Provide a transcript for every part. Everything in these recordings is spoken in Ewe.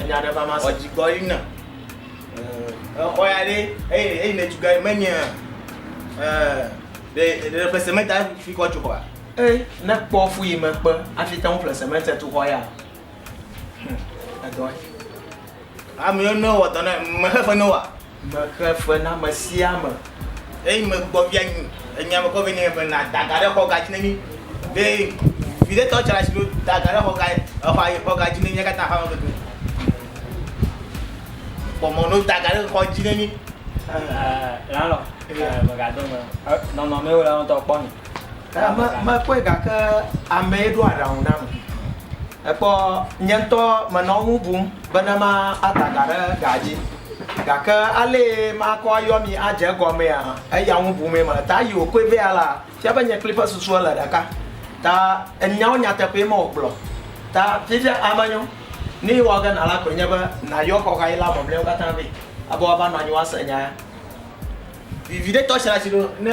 Enya ɖe va ma se. Ɔdzi gɔ yi na. Exɔ ya ɖe eye eye ne tuga me nye eh de de ƒe sementa fi kɔ tso xɔa. Eh ne kpɔ fu yi me kpe afi te ŋu ƒle sementa tu xɔ ya. Hm edɔ. Ame ne wɔ dɔ na me xefe ne wa. Mexe fe na ame sia ame. Eyi megbɔ via nyi enya me kɔ vɛ nɛ be na daga ɖe xɔ ga dzi ne mi. Be vi ɖe tɔ tsra shilo daga ɖe xɔ ga exɔa yi xɔ ga dzi ne mi katã aƒe me keke. Kpɔ mɔ no daga ɖe xɔ dzi ne mi. Lalo, mega do me. Nɔnɔ me wo la ŋutɔ kpɔ mi. Me, mekpɔe gake amee ɖo aɖaŋu nam. Èkpɔ, nye ŋutɔ menɔ eŋu bum bene mada ga ɖe gaa dzi. Gake alee makɔ ayɔ mi adze egɔmea, eya ŋu bumee mele. Ta eyi wòkpɔe be alea, fia be nye kplii ƒe susu ele ɖeka. Ta nyawo nyateƒee mewògblɔ. Ta fifia eme nyo. Nu yi wɔ ge nàla koe nye be nàyɔ xɔɣayila mamlɛawo katã vɛ be woava nɔ anyi woase nya ya. Viviɖetɔ sia si ɖo ne.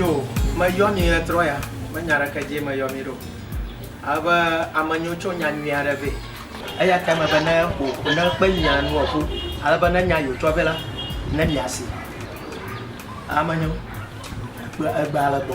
yo meyɔ mi etrɔ ya menya ɖeke dzi meyɔ mi ɖo abe amenyo tso nya nyui aɖe vɛ eya ta me be ne ƒo ne kpe nya nu ɔƒu ale be ne nya yo tsɔ vɛ la ne mi asi amenyo egbe ale gbɔ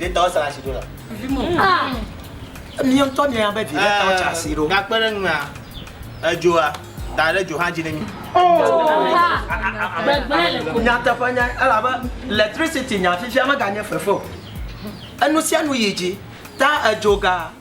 Ɖe tɔwo sara si ɖo la. Míawo tɔ mía be vi ɖe tɔwo tsa si ɖo. Gakpe ɖe nua edzoa da ɖe dzo hã dzi ne mi. Nyateƒe nya elabe electricity nya fifia meganye fefe o. Enu sia nu yi dzi ta edzoga.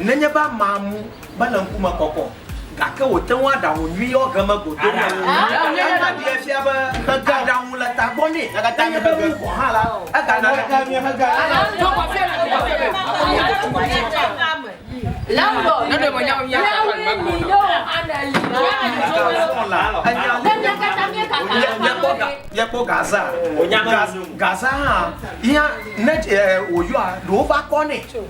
Nenye be amea mu mele ŋkume kɔkɔ o, gake wòte ŋu aɖaŋu nyui yɔ ʋe me godoo la, enya ɖee fia be aɖaŋu le tagbɔ nɛ. Nenye be ebu vɔ hã la, egana aɖaŋu le tagbɔ nɛ. Míekpɔ Gaza. Gaza hã, ne wòyɔa, ɖewo va kɔnɛ.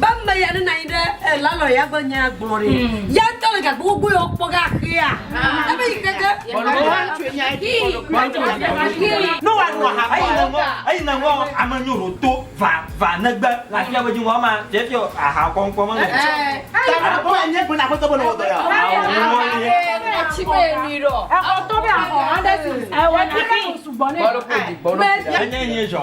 Be ame ya nenɔ anyi ɖe eh, landlord ya ƒe nyaa gblɔ ɖi. Ya ŋutɔ le gakpo gbogbo ya wokpɔ ge axea. Ebe yi ke ge. No wa no ha Eyi ne ŋɔ, eyi ne ŋɔ ame nyo ɖo to va va negbe le afia be dzi ŋɔ ma dze fia aha kɔnkɔ me le. Enye nye zɔ.